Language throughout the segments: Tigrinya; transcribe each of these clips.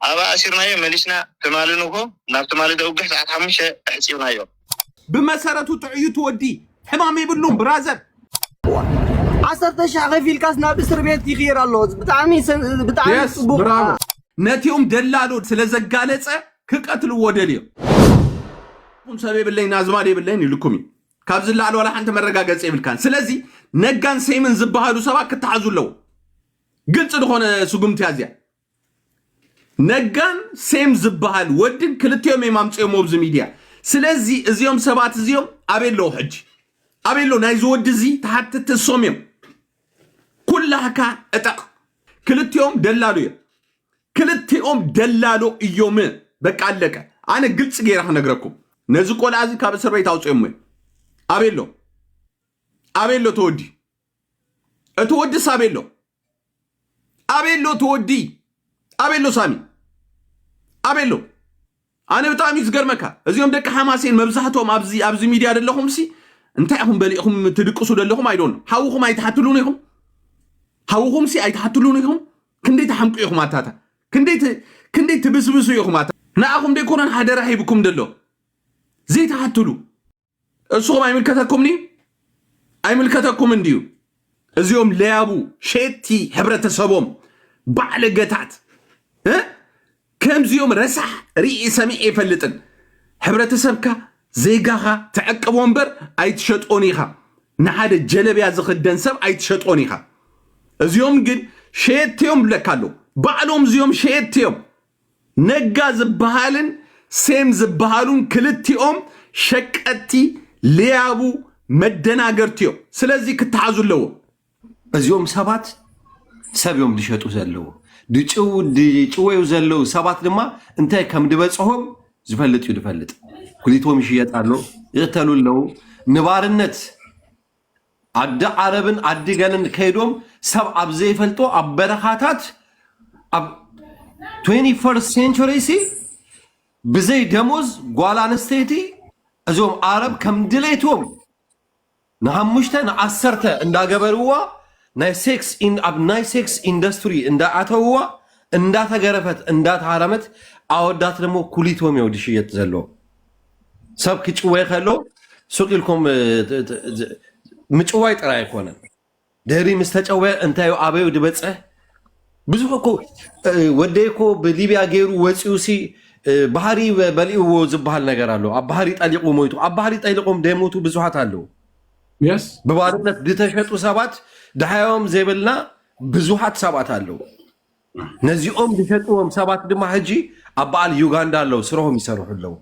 ኣባኣ ኣሲርናዮ መሊስና ትማሊ ንግሆ ናብ ትማሊ ደውግሕ ሰዓት ሓሙሽተ ኣሕጺብናዮ። ብመሰረቱ ጥዑይ እቲ ወዲ ሕማም የብሉን ብራዘር። ዓሰርተ ሽሕ ከፊልካስ ናብ እስርቤት ይቅየር ኣሎ ብጣዕሚ ብጣዕሚ ጽቡቅ። ነቲኦም ደላሎት ስለ ዘጋለጸ ክቀትልዎ ደልዮም። ሰብ የብለይን ኣዝማድ የብለይን ኢሉኩም እዩ። ካብዚ ንላዕሊ ዋላ ሓንቲ መረጋገጺ የብልካን። ስለዚ ነጋን ሴምን ዝበሃሉ ሰባት ክተሓዙ ኣለዎም። ግልጺ ዝኾነ ስጉምቲ እያ እዚኣ። ነጋን ሴም ዝበሃል ወድን ክልቲኦም እዮም ኣምፅኦም ኣብዚ ሚድያ ስለዚ እዚኦም ሰባት እዚኦም ኣበይ ኣለዉ ሕጂ ኣበይ ኣለዉ ናይዚ ወዲ እዚ ተሓትቲ እሶም እዮም ኩላህካ እጠቕ ክልቲኦም ደላሉ እዮም ክልቲኦም ደላሎ እዮም በቃ ኣለቀ ኣነ ግልፂ ገይረ ክነግረኩም ነዚ ቆልዓ እዚ ካብ እስር ቤት ኣውፅኦም እዮም ኣበይ ኣሎ ኣበይ ኣሎ ተወዲ እቲ ወዲስ ኣበይ ኣሎ ኣበይ ኣሎ እቲ ወዲ ኣበይ ኣሎ ሳሚ ኣበይ ኣሎ ኣነ ብጣዕሚ እዩ ዝገርመካ እዚኦም ደቂ ሓማሴን መብዛሕትኦም ኣብዚ ኣብዚ ሚድያ ዘለኹም ሲ እንታይ ኢኹም በሊእኹም ትድቅሱ ዘለኹም ኣይዶን ሓውኹም ኣይትሓትሉን ኢኹም ሓውኹም ሲ ኣይትሓትሉን ኢኹም ክንደይ ትሓምቁ ኢኹም ኣታታ ክንደይ ት- ክንደይ ትብስብሱ ኢኹም ኣታ ንኣኹም ደይኮነን ሓደራ ሂብኩም ደሎ ዘይትሓትሉ እሱኹም ኣይምልከተኩምን እዩ ኣይምልከተኩምን እንድዩ እዚኦም ለያቡ ሸቲ ሕብረተሰቦም ባዕለገታት እ? ከምዚኦም ረሳሕ ርኢ ሰሚዐ ይፈልጥን ሕብረተሰብካ ዜጋኻ ተዕቅቦ እምበር ኣይትሸጦን ኢኻ ንሓደ ጀለብያ ዝኽደን ሰብ ኣይትሸጦን ኢኻ እዚኦም ግን ሸየትዮም ብለካ ኣለዉ ባዕሎም እዚኦም ሸየትዮም ነጋ ዝበሃልን ሴም ዝበሃሉን ክልቲኦም ሸቀጥቲ ሌያቡ መደናገርቲ እዮም ስለዚ ክተሓዙ ኣለዎም። እዚኦም ሰባት ሰብ እዮም ዝሸጡ ዘለዉ ድጭወዩ ዘለዉ ሰባት ድማ እንታይ ከም ድበፅሆም ዝፈልጥ እዩ ድፈልጥ ጉሊቶም ይሽየጥ ኣሎ ይቕተሉ ኣለዉ ንባርነት ዓዲ ዓረብን ዓዲ ገለን ከይዶም ሰብ ኣብ ዘይፈልጦ ኣብ በረኻታት ኣብ 21 ሴንቸሪ ሲ ብዘይ ደሞዝ ጓል ኣንስተይቲ እዞም ዓረብ ከም ድሌቶም ንሓሙሽተ ንዓሰርተ እንዳገበርዋ ናይ ሴክስ ኢን- ኣብ ናይ ሴክስ ኢንዱስትሪ እንዳኣተውዋ እንዳተገረፈት እንዳተሃረመት ኣወዳት ደሞ ኩሊቶም እዮም ዝሽየጥ ዘሎ ሰብ ክጭወ ከሎ ሱቅ ኢልኩም ምጭዋይ ጥራይ ኣይኮነን ድህሪ ምስ ተጨወ እንታይ ኣበዩ ዝበፅሕ ብዙሕ እኮ ወደይ እኮ ብሊብያ ገይሩ ወፂኡ ሲ ባህሪ በሊእዎ ዝበሃል ነገር ኣሎ ኣብ ባህሪ ጠሊቁ ሞይቱ ኣብ ባህሪ ጠሊቆም ደሞቱ ብዙሓት ኣለዉ ብባርነት ዝተሸጡ ሰባት ድሓዮም ዘይብልና ብዙሓት ሰባት ኣለዉ ነዚኦም ዝሸጥዎም ሰባት ድማ ሕጂ ኣብ በዓል ዩጋንዳ ኣለዉ ስረሆም ይሰርሑ ኣለዉ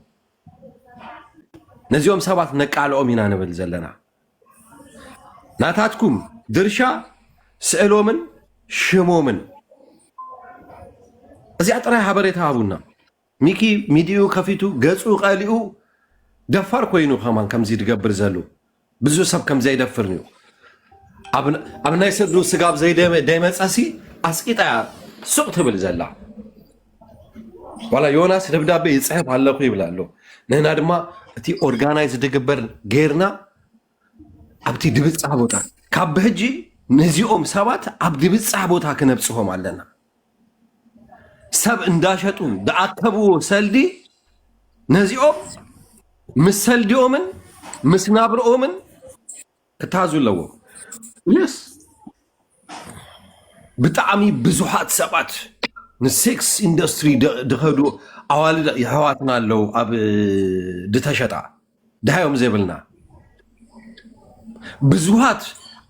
ነዚኦም ሰባት ነቃልኦም ኢና ንብል ዘለና ናታትኩም ድርሻ ስእሎምን ሽሞምን እዚኣ ጥራይ ሃበሬታ ሃቡና ሚኪ ሚዲኡ ከፊቱ ገጹ ቀሊኡ ደፋር ኮይኑ ከማን ከምዚ ድገብር ዘሉ ብዙ ሰብ ከምዘይደፍር እዩ ኣብ ናይ ስዱ ስጋብ ዘይደመፀሲ ኣስቂጣ እያ ሱቅ ትብል ዘላ ዋላ ዮናስ ደብዳቤ ይፅሕፍ ኣለኩ ይብል ኣሎ ንህና ድማ እቲ ኦርጋናይዝ ድግበር ጌርና ኣብቲ ድብፃ ቦታ ካብ ብሕጂ ንዚኦም ሰባት ኣብ ድብፃ ቦታ ክነብፅሆም ኣለና ሰብ እንዳሸጡ ዝኣከብዎ ሰልዲ ነዚኦም ምስ ሰልዲኦምን ምስ ናብርኦምን ክታዙ ኣለዎ የስ ብጣዕሚ ብዙሓት ሰባት ንሴክስ ኢንዱስትሪ ድኸዱ ኣዋልድ የሕዋትና ኣለዉ ኣብ ድተሸጣ ድሃዮም ዘይብልና ብዙሃት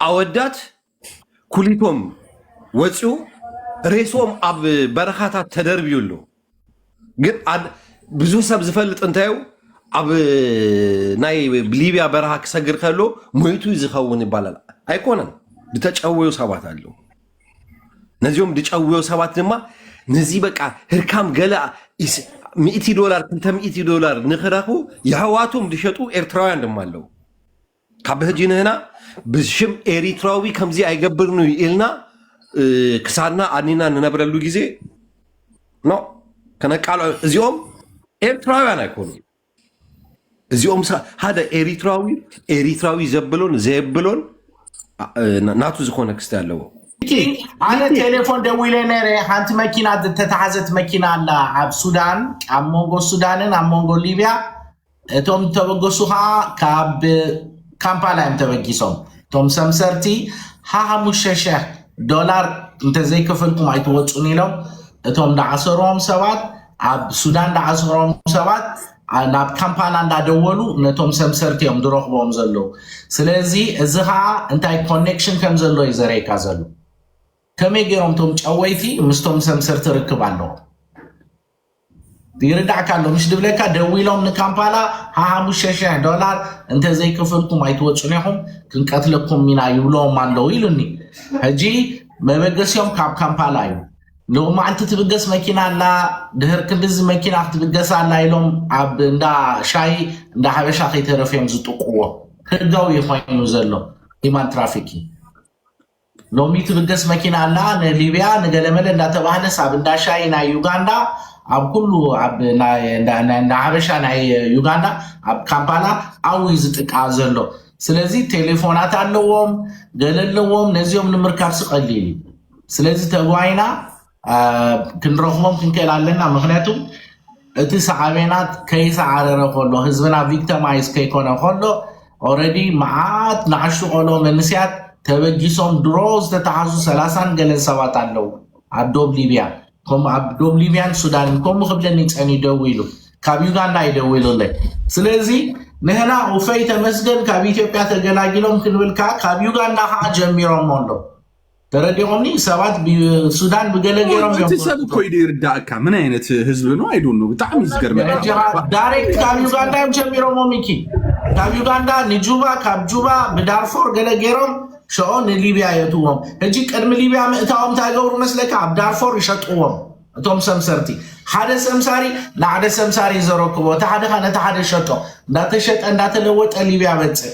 ኣወዳት ኩሊቶም ወፂኡ ሬስኦም ኣብ በረኻታት ተደርብዩ ኣሎ ግን ብዙ ሰብ ዝፈልጥ እንታዩ ኣብ ናይ ሊብያ በረኻ ክሰግር ከሎ ሞይቱ ዝኸውን ይባላል ኣይኮነን ድተጨወዩ ሰባት ኣለ ነዚኦም ድጨወዮ ሰባት ድማ ነዚ በቃ ህርካም ገለ ሚእቲ ዶላር ክልተ ሚእቲ ዶላር ንክረኽቡ የሕዋቶም ዝሸጡ ኤርትራውያን ድማ ኣለው ካብ ሕጂ ንህና ብሽም ኤሪትራዊ ከምዚ ኣይገብርን እዩ ኢልና እ፣ ክሳድና ኣድኒና ንነብረሉ ግዜ ኖ ከነቃልዖ እዚኦም ኤርትራውያን ኣይኮኑ እዚኦም ሰ- ሓደ ኤሪትራዊ ኤሪትራዊ ዘብሎን ዘየብሎን ኣ- እ፣ ናቱ ዝኾነ ክስተ ኣለዎ እቲ ኣነ ቴሌፎን ደዊለ ነረ ሓንቲ መኪና ዝተተሓዘት መኪና ኣላ ኣብ ሱዳን ኣብ መንጎ ሱዳንን ኣብ መንጎ ሊብያ እቶም ዝተበገሱ ከዓ ካብ ካምፓላ እዮም ተበጊሶም እቶም ሰምሰርቲ ሓሙሽተ ሽሕ ዶላር እንተዘይከፈልኩም ኣይትወፁን ኢሎም እቶም ዳዓሰሮም ሰባት ኣብ ሱዳን ዳዓሰሮም ሰባት ናብ ካምፓላ እንዳደወሉ ነቶም ሰምሰርቲ እዮም ዝረኽቦም ዘለዉ ስለዚ እዚ ከዓ እንታይ ኮኔክሽን ከም ዘሎ እዩ ዘርእየካ ዘሎ ከመይ ገይሮም እቶም ጨወይቲ ምስቶም ሰምሰርቲ ርክብ ኣለዎም ይርዳእካ ኣሎ ምሽ ድብለካ ደዊሎም ንካምፓላ ሓሙሽተ ሽሕ ዶላር እንተዘይከፈልኩም ኣይትወፁን ኢኹም ክንቀትለኩም ኢና ይብለዎም ኣለዉ ኢሉኒ ሕጂ መበገሲኦም ካብ ካምፓላ እዩ ሎሚ መዓልቲ ትብገስ መኪና ኣላ ድህር ክንዲዚ መኪና ክትብገስ ኣላ ኢሎም ኣብ እንዳ ሻሂ እንዳ ሓበሻ ከይተረፍዮም ዝጥቁዎ ህጋዊ ኮይኑ ዘሎ ሂማን ትራፊኪ ሎሚ ትብገስ መኪና ኣላ ንሊብያ ንገለመለ እንዳተባህለስ ኣብ እንዳ ሻይ ናይ ዩጋንዳ ኣብ ኩሉ ኣብ ናይ እንዳ ናይ እንዳ ሓበሻ ናይ ዩጋንዳ ኣብ ካምፓላ ኣው እዩ ዝጥቃ ዘሎ ስለዚ ቴሌፎናት ኣለዎም ገለ ኣለዎም ነዚኦም ንምርካብሲ ቀሊል እዩ ስለዚ ተጓይና ክንረኽቦም ክንክእል ኣለና ምክንያቱ እቲ ሰዓቤናት ከይሰዓረረ ከሎ ህዝብና ቪክተማይዝ ከይኮነ ከሎ ኦረዲ መዓት ንኣሽቱ ቆሎ መንስያት ተበጊሶም ድሮ ዝተተሓዙ ሰላሳን ገለን ሰባት ኣለዉ ኣብ ዶብ ሊብያ ከምኡ ኣብ ዶብ ሊብያን ሱዳንን ከምኡ ክብለኒ ፀኒ ደው ኢሉ ካብ ዩጋንዳ ይደውሉለይ ስለዚ ንህና ውፈይ ተመስገን ካብ ኢትዮጵያ ተገላጊሎም ክንብል ከዓ ካብ ዩጋንዳ ከዓ ጀሚሮሞ ኣሎ ተረዲኦምኒ ሰባት ሱዳን ብገለ ገይሮም እቲ ሰብ እኮ ኢሉ ይርዳእካ ምን ዓይነት ህዝቢ ነው ኣይዶ ነው ብጣዕሚ ዝገርመዳይሬክት ካብ ዩጋንዳ እዮም ጀሚሮሞ ሚኪ ካብ ዩጋንዳ ንጁባ ካብ ጁባ ብዳርፎር ገለ ገይሮም ሸኦ ንሊብያ የትዎም ሕጂ ቅድሚ ሊብያ ምእታዎም እንታይ ገብሩ መስለካ ኣብ ዳርፎር ይሸጥዎም እቶም ሰምሰርቲ ሓደ ሰምሳሪ ንሓደ ሰምሳሪ ዘረክቦ እቲ ሓደካ ነቲ ሓደ ሸጦ እንዳተሸጠ እንዳተለወጠ ሊብያ በፅእ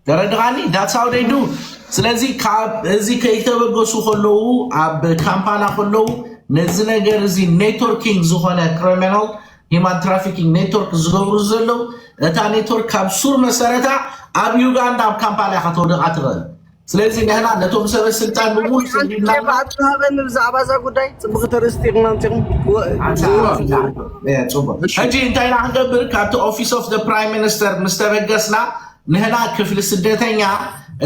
ተረድኻኒ ዳትስ ሃው ደይ ዱ ስለዚ ካብ እዚ ከይተበገሱ ከለዉ ኣብ ካምፓላ ከለዉ ነዚ ነገር እዚ ኔትወርኪንግ ዝኾነ ክሪሚናል ሂማን ትራፊኪንግ ኔትወርክ ዝገብሩ ዘለዉ እታ ኔትወርክ ካብ ሱር መሰረታ ኣብ ዩጋንዳ ኣብ ካምፓላ ኢኻ ተውደቓ ትኽእል ስለዚ ንሕና ነቶም ሰበ ስልጣን ብምሉእ ሓንቲ ሰዲድና ኬፍ ኣለና ኣቶ ሃበኒ ብዛዕባ እዛ ጉዳይ ፅቡቅ ተርእስቲ ኢኹም ኣምፂኹም ወ- ሓንሳ ው- ሓንሳ ው- ፅቡቅ ሕጂ እንታይ ኢና ክንገብር ካብቲ ኦፊስ ኦፍ ፕራይም ሚኒስተር ምስ ተበገስና ንህና ክፍሊ ስደተኛ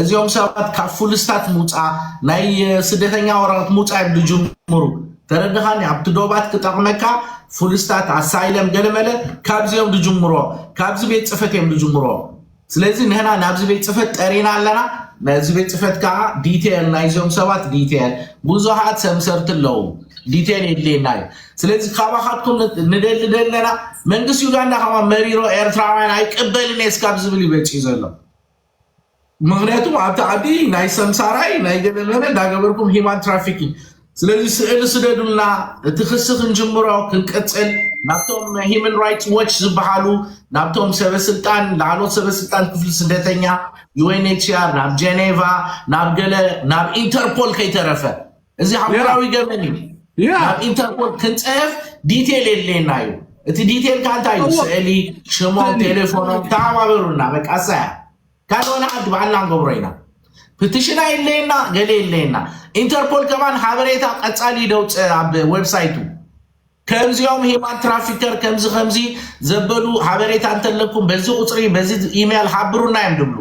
እዚኦም ሰባት ካብ ፉልስታት ምውፃእ ናይ ስደተኛ ወረቀት ምውፃእ እዮም ዝጅምሩ ተረድኻኒ ኣብቲ ዶባት ክጠቕመካ ፉልስታት ኣሳይለም ገለመለ ካብዚ እዮም ዝጅምሮ ካብዚ ቤት ፅፈት እዮም ዝጅምሮ ስለዚ ንህና ናብዚ ቤት ፅፈት ጠሪና ኣለና ናዚ ቤት ፅፈት ከዓ ዲቴል ናይዚኦም ሰባት ዲቴል ብዙሃት ሰምሰርቲ ኣለዉ ዲቴል የድልየና እዩ ስለዚ ካባኻትኩም ንደሊ ደለና መንግስቲ ዩጋንዳ ከማ መሪሮ ኤርትራውያን ኣይቅበልን እየ ስካብ ዝብል እዩ በፂኡ ዘሎ ምክንያቱ ኣብቲ ዓዲ ናይ ሰምሳራይ ናይ ገለመለ እንዳገበርኩም ሂማን ትራፊክ ስለዚ ስእሊ ስደዱልና እቲ ክሲ ክንጅምሮ ክንቅፅል ናብቶም ሂማን ራይትስ ዎች ዝበሃሉ ናብቶም ሰበስልጣን ላዕሎት ሰበስልጣን ክፍሊ ስደተኛ ዩኤንኤችሲኣር ናብ ጀኔቫ ናብ ገለ ናብ ኢንተርፖል ከይተረፈ እዚ ኣህጉራዊ ያ ገበን እዩ። ናብ ያ ኢንተርፖል ክንፅሕፍ ዲቴል የድልየና እዩ። እቲ ዲቴል ከዓ እንታይ እዩ? እዎ ስእሊ፣ ሽሞም፣ ስእሊ ቴሌፎኖም ተሓባበሩና። በቃ እሰያ ካልኦ ንዓዲ ባዕልና ንገብሮ ኢና። ፕቲሽን ኣይድለየና ገለ የድለየና። ኢንተርፖል ከማን ሓበሬታ ቀፃሊ ደውፅእ ኣብ ዌብሳይቱ ከምዚኦም ሂማን ትራፊከር ከምዚ ከምዚ ዘበሉ ሓበሬታ እንተለኩም በዚ ቁፅሪ በዚ ኢሜይል ሓብሩና እዮም ድብሉ።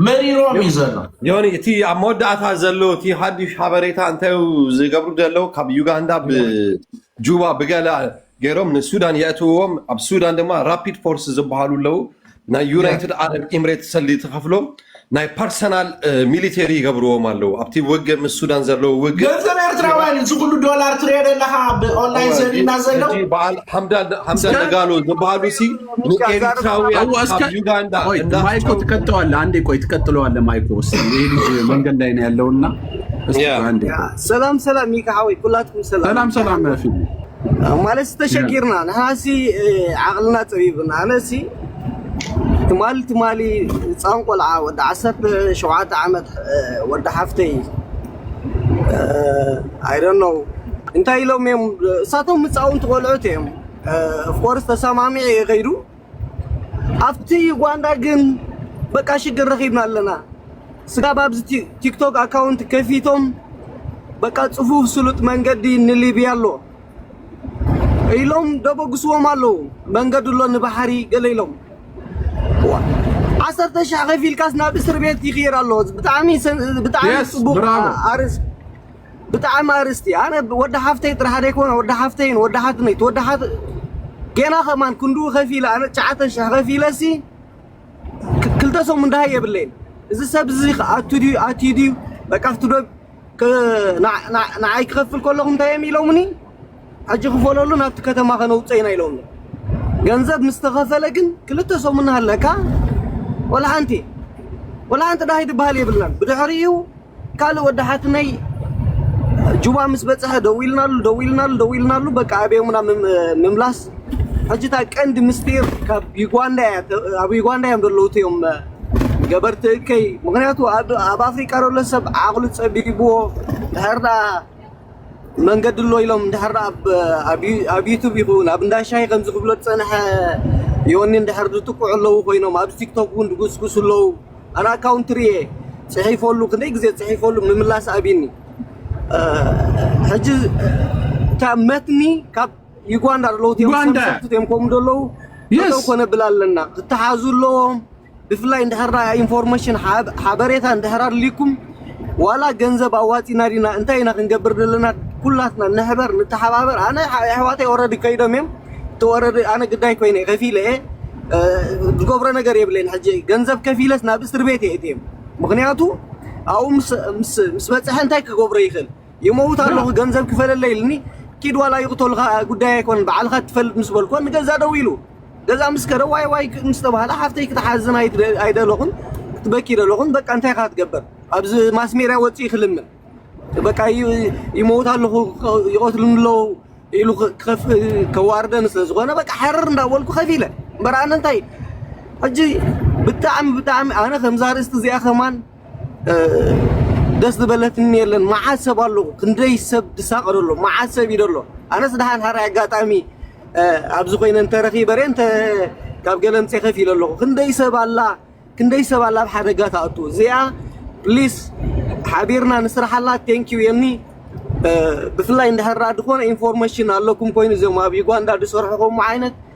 መሪሮም እዩ ዘሎ ዮኒ እቲ ኣብ መወዳእታ ዘሎ እቲ ሓዱሽ ሓበሬታ እንታይ እዩ ዝገብሩ ዘለዉ ካብ ዩጋንዳ ብጁባ ብገለ ገይሮም ንሱዳን የእትውዎም ኣብ ሱዳን ድማ ራፒድ ፎርስ ዝበሃሉ ኣለዉ ናይ ዩናይትድ ዓረብ ኤምሬት ሰልዲ ተኸፍሎም ናይ ፐርሰናል ሚሊተሪ ይገብርዎም ኣለዉ ኣብቲ ውግእ ምስ ሱዳን ዘለዉ ውግእ ገንዘብ ኤርትራውያን እዩ እዚ ኩሉ ዶላር ትሪኦ ዘለካ ብኦንላይን ዘድና ዘሎ በዓል ሓምዳን ሓምዳን ደጋሎ ዝበሃሉ ሲ ንኤሪትራውያን ካብ ዩጋንዳ ማይኮ ትቀጠዋለ አንዴ ቆይ ትቀጥለዋለ ማይኮ ስ ይህ ልጅ መንገድ ላይ ነው ያለውና ሰላም ሰላም ሚካ ሓወይ ኩላትኩም ሰላም ሰላም ፊ ማለት ተሸጊርና ንሓሲ ዓቕልና ፀቢብና ኣነሲ ትማሊ ትማሊ ህፃን ቆልዓ ወዲ ዓሰርተ ሸውዓተ ዓመት ወዲ ሓፍተይ ኣይደነው እንታይ ኢሎም እዮም እሳቶም ህፃውንቲ ቆልዑት እዮም ኦፍኮርስ ተሰማሚዐ እየ ከይዱ ኣብቲ ዩጋንዳ ግን በቃ ሽግር ረኺብና ኣለና ስጋብ ኣብዚ ቲክቶክ ኣካውንት ከፊቶም በቃ ፅፉፍ ስሉጥ መንገዲ ንሊብያ ኣሎ ኢሎም ደበግስዎም ኣለዉ መንገዲ ኣሎ ንባሕሪ ገለ ኢሎም ዓሰርተ ሽሕ ከፊልካስ ናብ እስር ቤት ይኽይር ኣሎ ብጣዕሚ ብጣዕሚ Yes, ጽቡቕ bravo. ኣርእስቲ ብጣዕሚ ኣርእስቲ ኣነ ወዲ ሓፍተይ ጥራሕ ዘይኮነ ወዲ ሓፍተይን ወዲ ሓትነይ ወዲ ሓት ጌና ከማን ክንድኡ ከፊለ ኣነ ትሽዓተ ሽሕ ከፊለሲ ክልተ ሰሙን ድሃይ የብለይን እዚ ሰብ እዚ ኣቱ ድዩ ኣትዩ ድዩ በቃ ክትዶ ንዓይ ክኸፍል ከለኹ እንታይ እዮም ኢሎምኒ ሕጂ ክፈለሉ ናብቲ ከተማ ከነውፅኦ ኢና ኢሎምኒ ገንዘብ ምስ ተኸፈለ ግን ክልተ ሰሙን ኣለካ ወላ ሓንቲ ወላ ሓንቲ ድሃይ ዝበሃል የብልናን ብድሕሪኡ ካልእ ወዲ ሓትነይ ጁባ ምስ በጽሐ ደዊልናሉ ደዊልናሉ ደዊልናሉ በቃ ኣበዮምና ምምላስ ሕጂ እታ ቀንዲ ምስጢር ካብ ዩጋንዳ እያ ኣብ ዩጋንዳ እዮም ዘለዉ እትዮም ገበርቲ እከይ ምክንያቱ ኣብ ኣፍሪቃ ዘሎ ሰብ ዓቕሉ ጸቢብዎ ድሕር ደኣ መንገዲ ኣሎ ኢሎም ድሕር ኣብ ዩቱብ ይኹን ኣብ እንዳሻይ ከምዚ ክብሎ ዝጸንሐ ዮኒ ድሕር ዝጥቅዑ ኣለዉ ኮይኖም ኣብ ቲክቶክ እውን ድጉስጉሱ ኣለዉ ኣነ ኣካውንት ሪኤ ጽሒፈሉ ክንደይ ግዜ ጽሒፈሉ ምምላስ ኣቢኒ ሕጂ ካብ መትኒ ካብ ዩጋንዳ ኣለዉ ሰብሰብት እዮም ከምኡ ዘለዉ ጠጠው ኮነ ብላ ኣለና ክተሓዙ ኣለዎም ብፍላይ እንድሕር ኢንፎርሜሽን ሓበሬታ እንድሕር ኣድልይኩም ዋላ ገንዘብ ኣዋጺና ዲና እንታይ ኢና ክንገብር ዘለና ኩላትና ንሕበር ንተሓባበር ኣነ ኣሕዋተይ ኦረዲ ከይዶም እዮም እቲ ኦረዲ ኣነ ግዳይ ኮይነ ከፊለ እየ ዝገብሮ ነገር የብለይን ሕጂ ገንዘብ ከፊለስ ናብ እስር ቤት እየ እትዮም ምክንያቱ ኣብኡ ምስ በፅሐ እንታይ ክገብሮ ይኽእል ይመውት ኣለኹ ገንዘብ ክፈለለይ ኢልኒ ኪድ ዋላ ይቕተሉኻ ጉዳይ ኣይኮነን ባዕልኻ ትፈልጥ ምስ በልኮ ንገዛ ደው ኢሉ ገዛ ምስ ከደ ዋይ ዋይ ምስ ተባህለ ሓፍተይ ክትሓዝን ኣይደለኹን ክትበኪ ደለኹን በቃ እንታይ ካ ትገበር ኣብዚ ማስ ሜድያ ወፅኢ ክልምን በቃ ይመውት ኣለኹ ይቐትሉኒ ኣለዉ ኢሉ ክኸፍ ከዋርደኒ ስለ ዝኾነ በቃ ሓርር እንዳበልኩ ከፍ ኢለ እምበር ኣነ እንታይ ሕጂ ብጣዕሚ ብጣዕሚ ኣነ ከምዛ ርእስቲ እዚኣ ከማን ደስ ዝበለትኒ የለን መዓት ሰብ ኣሎ ክንደይ ሰብ ድሳቀሎ ኣሎ መዓት ሰብ ኢዩ ዘሎ ኣነስ ደሓን ሃራይ ኣጋጣሚ ኣብዚ ኮይነ እንተረኺበ ርየ እንተ ካብ ገለምፀ ከፍ ኢለ ኣለኹ ክንደይ ሰብ ኣላ ክንደይ ሰብ ኣላ ኣብ ሓደጋ ትኣቱ እዚኣ ፕሊስ ሓቢርና ንስራሓላ ቴንክ ዩ የኒ ብፍላይ እንድሕር ድኾነ ኢንፎርሜሽን ኣለኩም ኮይኑ እዞም ኣብ ዩጋንዳ ዝሰርሑ ከምኡ ዓይነት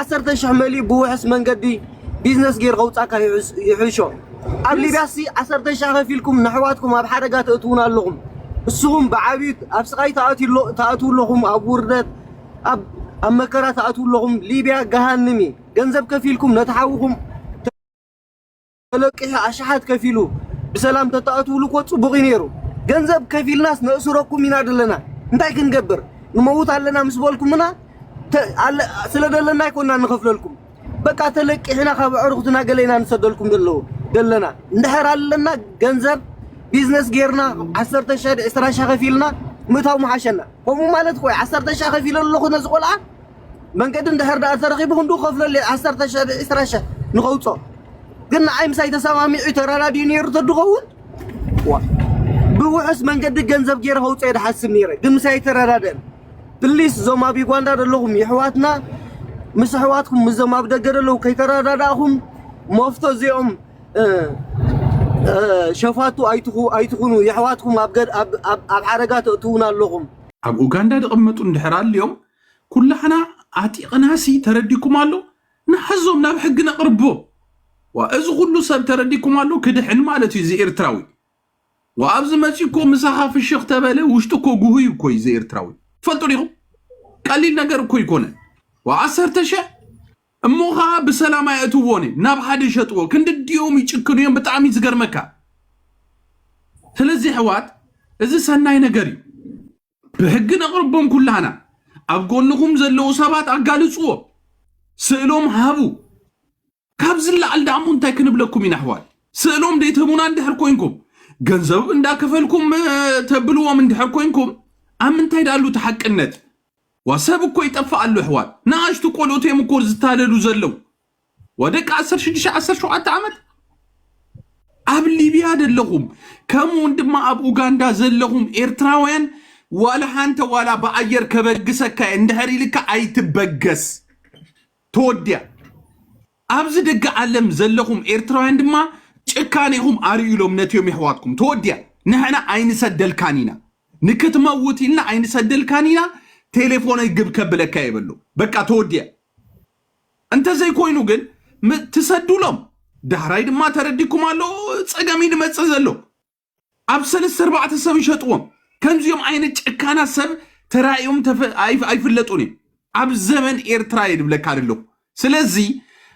ዓሰርተ ሽሕ መሊኡ ብውሑስ መንገዲ ቢዝነስ ጌሩ ከውጻካ ይሕሾ ኣብ ሊብያሲ ዓሰርተ ሽሕ ከፊልኩም ነሕዋትኩም ኣብ ሓደጋ ተእትዉና ኣለኹም ንስኹም ብዓብዩ ኣብ ስቃይ ትኣትዉ ኣለኹም ኣብ ውርደት ኣብ መከራ ትኣትዉ ኣለኹም ሊብያ ገሃንም እዩ ገንዘብ ከፊልኩም ነቲ ሓውኹም ተለቂሑ ኣሽሓት ከፊሉ ብሰላም ተተኣትውሉ እኮ ፅቡቅ እዩ ነይሩ። ገንዘብ ከፊልናስ ነእስረኩም ኢና ዘለና እንታይ ክንገብር ንመውት ኣለና ምስ በልኩምና ስለ ደለና ኣይኮና ንኸፍለልኩም በቃ ተለቂሕና ካብ ኣዕሩኽትና ገለ ኢና ንሰደልኩም ደለዉ ደለና እንድሕር ኣለና ገንዘብ ቢዝነስ ጌርና ዓሰርተ ሸሕ ዕስራ ሸሕ ከፊልና ምእታው ምሓሸና ከምኡ ማለት ቆይ ዓሰርተ ሸሕ ከፊለ ኣለኹ ነዚ ቆልዓ መንገዲ እንድሕር ድኣ ተረኺቡ ክንድኡ ክኸፍለሉ እየ ዓሰርተ ሽሕ ብ ዕስራ ሽሕ ንኸውጾ ግን ንዓይ ምሳይ ተሰማሚዑ ተረዳዲኡ ነይሩ ተድኸውን ዋ ብውሑስ መንገዲ ገንዘብ ገይረ ከውጾ እየ ድሓስብ ነይረ ግን ምሳይ ኣይተረዳድእን ፕሊስ እዞም ኣብ ዩጋንዳ ዘለኹም የሕዋትና ምስ ኣሕዋትኩም ምስዞም ኣብ ደገ ዘለዉ ከይተረዳዳእኹም መፍቶ እዚኦም ሸፋቱ ኣይትኹኑ የሕዋትኩም ኣብ ሓደጋ ተእትዉና ኣለኹም ኣብ ኡጋንዳ ድቕመጡ እንድሕር ኣልዮም ኩላህና ኣጢቕናሲ ተረዲኩም ኣሎ ንሓዞም ናብ ሕጊ ነቕርቦ ዋ እዚ ኩሉ ሰብ ተረዲኩም ኣሎ ክድሕን ማለት እዩ ዘኤርትራዊ ዋ ኣብዚ መፂ እኮ ምሳኻ ፍሽኽ ተበለ ውሽጡ እኮ ጉህዩ እኮ እዩ ዘኤርትራዊ ፈልጡ ዲኹም ቀሊል ነገር እኮ ይኮነን ዋ ዓሰርተ ሸሕ እሞ ከዓ ብሰላም ኣየእትዎን እዮም ናብ ሓደ ይሸጥዎ ክንዲ ድኦም ይጭክኑ እዮም ብጣዕሚ ዝገርመካ ስለዚ ሕዋት እዚ ሰናይ ነገር እዩ ብሕጊ ነቕርቦም ኩላህና። ኣብ ጎንኹም ዘለዉ ሰባት ኣጋልጽዎ። ስእሎም ሃቡ። ካብ ዝለዓል ደኣሞ እንታይ ክንብለኩም ኢና ኣሕዋት? ስእሎም ዘይትህቡና እንድሕር ኮንኩም፣ ገንዘብ እንዳከፈልኩም ተብልዎም እንድሕር ኮንኩም፣ ኣብ ምንታይ ደኣሉ እቲ ሓቅነት? ዋ ሰብ እኮ ይጠፍእ ኣሎ ኣሕዋት። ንኣሽቱ ቆልኡት እዮም እኮ ዝታለሉ ዘለዉ። ወደቂ ዓሰርተ ሽዱሽተ ዓሰርተ ሸውዓተ ዓመት ኣብ ሊብያ ዘለኹም ከምኡውን ድማ ኣብ ኡጋንዳ ዘለኹም ኤርትራውያን ዋላ ሓንተ ዋላ ብኣየር ከበግሰካ እየ እንድሕር ኢልካ ኣይትበገስ ተወዲያ ኣብዚ ደገ ዓለም ዘለኹም ኤርትራውያን ድማ ጭካኔኹም ኣርእዩሎም ነትዮም የሕዋትኩም ተወዲያ ንሕና ኣይንሰደልካን ኢና ንክትመውት ኢልና ኣይንሰደልካን ኢና ቴሌፎነይ ግብ ከብለካ የበሎ በቃ ተወዲያ እንተዘይኮይኑ ግን ም ትሰዱሎም ዳህራይ ድማ ተረዲኩም ኣሎ ጸገም እዩ ድመጽእ ዘሎ ኣብ ሰለስተ ኣርባዕተ ሰብ ይሸጥዎም ከምዚኦም ዓይነት ጨካናት ሰብ ተራእዮም ተፈ- ኣይፍ- ኣይፍለጡን እዮም ኣብ ዘመን ኤርትራ እየ ድብለካ ዘለኹ ስለዚ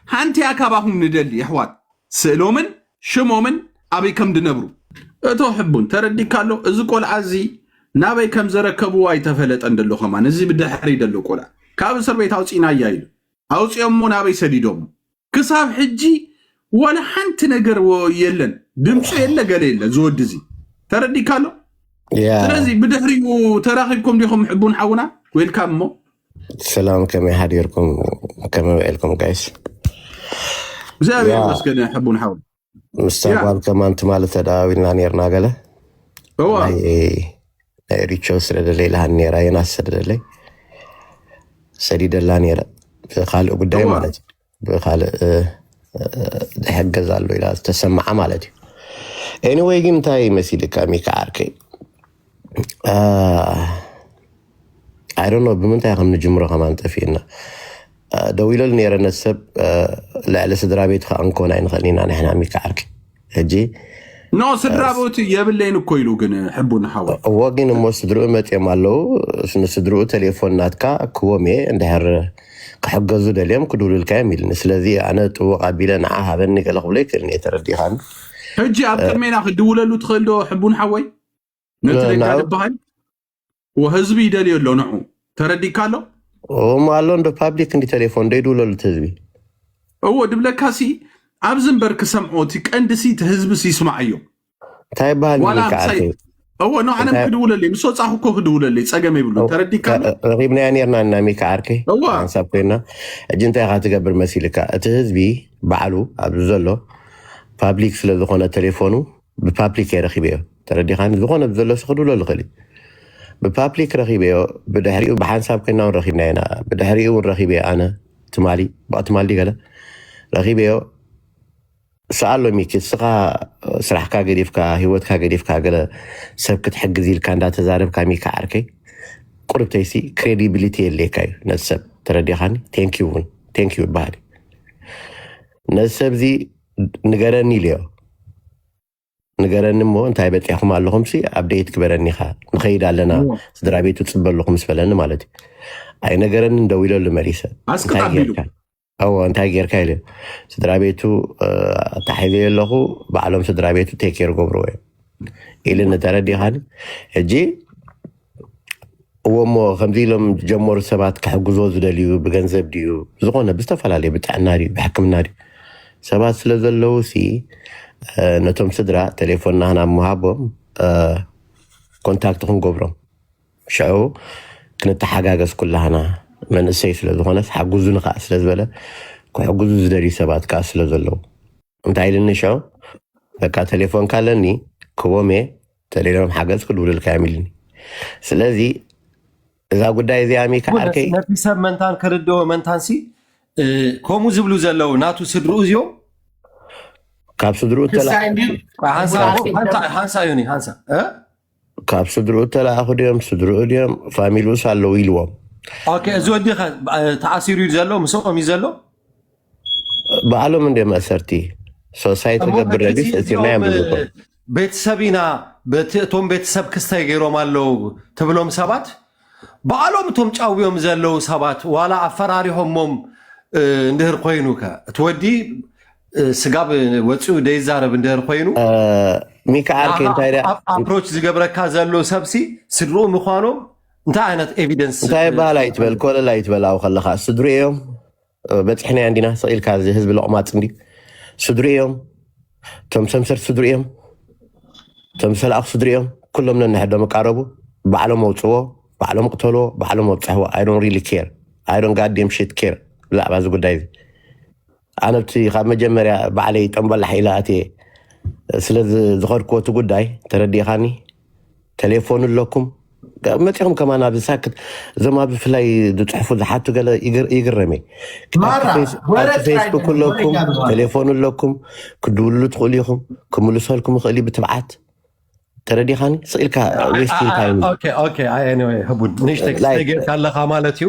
ሃንቲያ ካባኹም ንደሊ የሕዋት ስእሎምን ሽሞምን ኣበይ ከም ድነብሩ እቶ ሕቡን ተረዲካ ኣሎ እዚ ቆልዓ እዚ ናበይ ከም ዘረከብዎ ኣይተፈለጠን ደሎ ከማን እዚ ብድሕሪ ደሎ ቆልዓ ካብ እስር ቤት ኣውፂናያ ኢሉ ኣውፂኦሞ ናበይ ሰዲዶሞ ክሳብ ሕጂ ዋላ ሓንቲ ነገር ወ- የለን ድምፁ የለ ገለ የለ ዝወዲ እዚ ተረዲካ ኣሎ ያ ስለዚ ብድሕሪኡ ተራኺብኩም ዲኹም ሕቡን ሓውና ዌልካም እሞ ሰላም ከመይ ሓዲርኩም ከመይ ውዒልኩም ጋይስ እግዚኣብሔር ያ ይመስገን ሕቡን ሓው ምስታ ያ ጓል ከማን ትማሊ ተደዋዊልና ነርና ገለ እዋ ናይ ናይ ሪቾ ስለ ደለይልሃን ነራ የናስ ስለ ደለይ ሰዲደላ ነረ ካልእ ጉዳይ እዋ ማለት እዩ ብካልእ ዝሕገዝ ኣሎ ኢላ ዝተሰምዓ ማለት እዩ ኤኒወይ ግን እንታይ መሲልካ ሚካ ዓርከይ ኣይዶኖ ብምንታይ ከም ንጅምሮ ከማን ጠፊእና ደው ኢለሉ ነይረ ነቲ ሰብ ልዕሊ ስድራ ቤትካ ክንኮን ኣይንኽእል ኢና ንሕና ሚካ ዓርከይ ሕጂ ኖ ስድራ ቦት የብለይን እኮ ኢሉ ግን ሕቡ ንሓወ እዎ ግን እሞ ስድርኡ መፅኦም ኣለዉ ንስድርኡ ቴሌፎን ናትካ ክዎም እየ እንድሕር ክሕገዙ ደልዮም ክድውሉልካ እዮም ኢልኒ ስለዚ ኣነ ጥቡቕ ኣቢለ ንዓ ሃበኒ ገለ ክብሎ ይክእልኒ እየ ተረዲኻን ሕጂ ኣብ ቅድሜና ክድውለሉ ትኽእል ዶ ሕቡን ሓወይ ነቲ ነጋ ዝበሃል ወህዝቢ ይደልዮ ኣሎ ንዑ ተረዲካ ኣሎ እሞ ኣሎ እንዶ ፓብሊክ እንዲ ቴሌፎን ዶ ይድውለሉ እቲ ህዝቢ እዎ ድብለካ ሲ ኣብዚ እምበር ክሰምዖ እቲ ቀንዲ ሲ እቲ ህዝቢ ሲ ይስማዓዮ እንታይ ይበሃል ዋላ ምሳይ ምልክዓልቲ እዎ ኖ ዓለም እንታይ ክድውለለይ ምስ ወፃኹ እኮ ክድውለለይ ፀገም የብሉን ተረዲካ ኣሎ ረኪብናያ ነርና እና ሚካ ዓርኪ እዋ ሓንሳብ ኮይና ሕጂ እንታይ ኢካ ትገብር መሲልካ እቲ ህዝቢ ባዕሉ ኣብዚ ዘሎ ፓብሊክ ስለ ዝኮነ ቴሌፎኑ ብፓፕሊክ እየ ረኪበዮ ተረዲኻኒ ዝኾነ ብዘሎሲ ክድብሎ ልኽእል እዩ ብፓፕሊክ ረኪበዮ ብድሕሪኡ ብሓንሳብ ኮይና እውን ረኪብና ኢና ብድሕሪኡ እውን ረኪበዮ ኣነ ትማሊ ብኣ ትማሊ ገለ ረኪበዮ ስኣሎ ሚኪ እስኻ ስራሕካ ገዲፍካ ሂወትካ ገዲፍካ ገለ ሰብ ክትሕግዝ ኢልካ እንዳተዛረብካ ሚኪ ዓርከይ ቁርብተይሲ ክሬዲቢሊቲ የድልየካ እዩ ነዚ ሰብ ተረዲኻኒ ቴንኪዩ እውን ቴንኪዩ ይበሃል እዩ ነዚ ሰብ እዚ ንገረኒ ኢልዮ ንገረኒ እሞ እንታይ በፂሕኩም ኣለኹም ሲ ኣብደየት ክበረኒ ኢኻ ንኸይድ ኣለና ስድራ ቤቱ ፅበ ኣለኹ ምስ በለኒ ማለት እዩ ኣይነገረኒ እንደው ኢለሉ መሊሰ እንታይ ጌርካ እዎ እንታይ ጌርካ ኢለ ስድራ ቤቱ ኣታሒዘዮ ኣለኹ ባዕሎም ስድራ ቤቱ ቴኬር ገብርዎ እዮም ኢልኒ ተረዲኻኒ ሕጂ እዎ እሞ ከምዚ ኢሎም ዝጀመሩ ሰባት ክሕግዞ ዝደልዩ ብገንዘብ ድዩ ዝኾነ ብዝተፈላለዩ ብጥዕና ድዩ ብሕክምና ድዩ ሰባት ስለ ዘለዉ ሲ እ፣ ነቶም ስድራ ቴሌፎን ናህና ምሃቦም እ፣ ኮንታክት ክንገብሮም ሽዑ ክንተሓጋገዝ ኩላህና መንእሰይ ስለ ዝኾነስ ሓግዙኒ ከዓ ስለ ዝበለ ክሕግዙ ዝደልዩ ሰባት ከዓ ስለ ዘለዉ እንታይ ኢልኒ ሽዑ በቃ ቴሌፎንካ ኣለኒ ክቦም እየ ተሌሎም ሓገዝ ክድውልልካ እዮም ኢልኒ ስለዚ እዛ ጉዳይ እዚኣ ሚካ እውን ዓርከይ ነቲ ሰብ መንታን ክርድኦ መንታን ሲ እ፣ ከምኡ ዝብሉ ዘለዉ ናቱ ስድርኡ እዚኦም ካብ ስድርኡ ተላ ክሳይ እንድዩ ሓንሳ ካብ ስ- ሓንሳ ሓንሳ እዩ ኒ ሓንሳ እ? ካብ ስድርኡ ተላኣኹ ድዮም ስድርኡ ድዮም ፋሚሉስ ኣለዉ ኢልዎም ኦኬ እዚ ወዲ ከ እ፣ ተኣሲሩ እዩ ዘሎ ምስኦም እዩ ዘሎ ባዕሎም እንደ መእሰርቲ ሶሳይቲ እሞ ገብር እቲ ረቢስ እቲ ናይ እዚኦም እ፣ ኣምልኮ ቤተሰብ ኢና በቲ እቶም ቤተሰብ ክስተይ ገይሮም ኣለዉ ትብሎም ሰባት በዓሎም እቶም ጫውዮም ዘለዉ ሰባት ዋላ ኣፈራሪሆሞም እ፣ እንድህር ኮይኑ ከ እቲ ወዲ እ፣ ስጋብ ወፂኡ ደይዛረብ እንድህር ኮይኑ እ፣ ሚካ ዓርከይ ንዓኻ እንታይ ደኣ ኣፕሮች ዝገብረካ ዘሎ ሰብሲ ስድርኡ ምዃኖም እንታይ ዓይነት ኤቪደንስ እንታይ በሃል ኣይትበል ኮለል ኣይትበል ኣብኡ ከለኻ ስድሩ እዮም በፂሕናዮ እንዲና ስቕ ኢልካ እዚ ህዝቢ ሎቕማፅ እንዲ ስድሪ እዮም እቶም ሰምሰር ስድሪ እዮም እቶም ሰላኣኽ ስድሪ እዮም ኩሎም ነንሕዶም ይቃረቡ ባዕሎም ኣውፅዎ ባዕሎም ቅተልዎ ባዕሎም ኣብፅሕዎ ኣይዶን ሪሊ ኬር ኣይዶን ጋዴም ሽት ኬር ብዛዕባ እዚ ጉዳይ እዚ ኣነ ብቲ ካብ መጀመርያ ባዕለይ ጠምበላሕ ኢላ እትየ ስለዚ ዝኸድክዎ እቲ ጉዳይ ተረዲእኻኒ ተሌፎን ኣለኩም መፂኹም ከማን ኣብዚ ሳክት እዞም ኣብ ብፍላይ ዝፅሕፉ ዝሓቱ ገለ ይግር- ይግረም እየ ኣብቲ ማራ ፌስ- ወረ ኣብቲ ጥራይ ፌስቡክ ኣይኮነን፣ ወረ ኣለኩም ይጋብዙ ኣለዉ። ቴሌፎን ኣለኩም ክድውሉ ትኽእሉ ኢኹም ክምልሰልኩም ይኽእል እዩ ብትብዓት ተረዲኻኒ ስኢልካ ዌስቲን ታይም እዩ ኦኬ ኦኬ ኣይ ኤኒዌይ ህቡድ ንእሽተይ ክስተይ ጌርካ ኣለኻ ማለት እዩ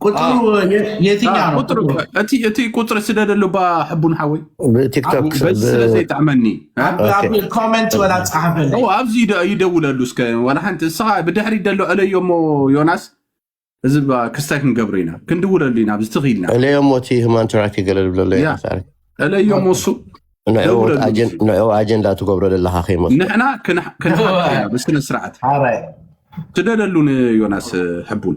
ቁጥሩ የትኛ ነው? ቁጥር እቲ እቲ ቁፅሪ ስደደሉ ባ ሕቡን ሓወይ ብቲክቶክ በዚ ስለ ዘይጠዕመኒ እ? ኣብ ኣብ ኮመንት ወላ ጸሓፈለይ እው ኣብዚ ይደ- ይደውለሉ እስከ ዋላ ሓንቲ እስኻ ብድሕሪ ደሎ ዕለዮ እሞ ዮናስ እዚ ባ ክስታይ ክንገብሮ ኢና ክንድውለሉ ኢና ኣብዚ ትኽ ኢልና እለዮ እሞ እቲ ህማን ትራክ ገለ ዝብለሎ ያ። ይፈጣሪ ዕለዮ እሞ እሱ ንዕኡ ደውለሉ ኣጀን- ንዕኡ ኣጀንዳ ትገብሮ ዘለካ ከይመስ ንሕና ክንሓ- ክንሓካ ኢና ብስነ ስርዓት ሓራይ ስደደሉ ንዮናስ ሕቡን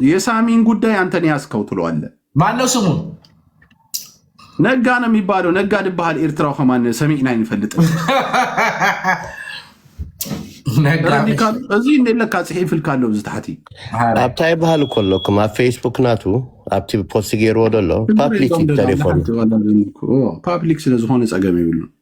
የሳሚን ጉዳይ አንተን ያዝከው ትለዋለ። ማነው ስሙ? ነጋ ነው የሚባለው። ነጋ ድባሃል ኤርትራው ከማን ሰሚዕና ይንፈልጥ እዚ ለካ ፅሒፍ ኢልካ ኣሎ እዚ ታሕቲ ኣብታ ይበሃል እኮ ኣለኩም ኣብ ፌስቡክ ናቱ ኣብቲ ፖስት ገይርዎ ደሎ ፓብሊክ ቴሌፎን ፓብሊክ ስለዝኾነ ፀገም ይብሉ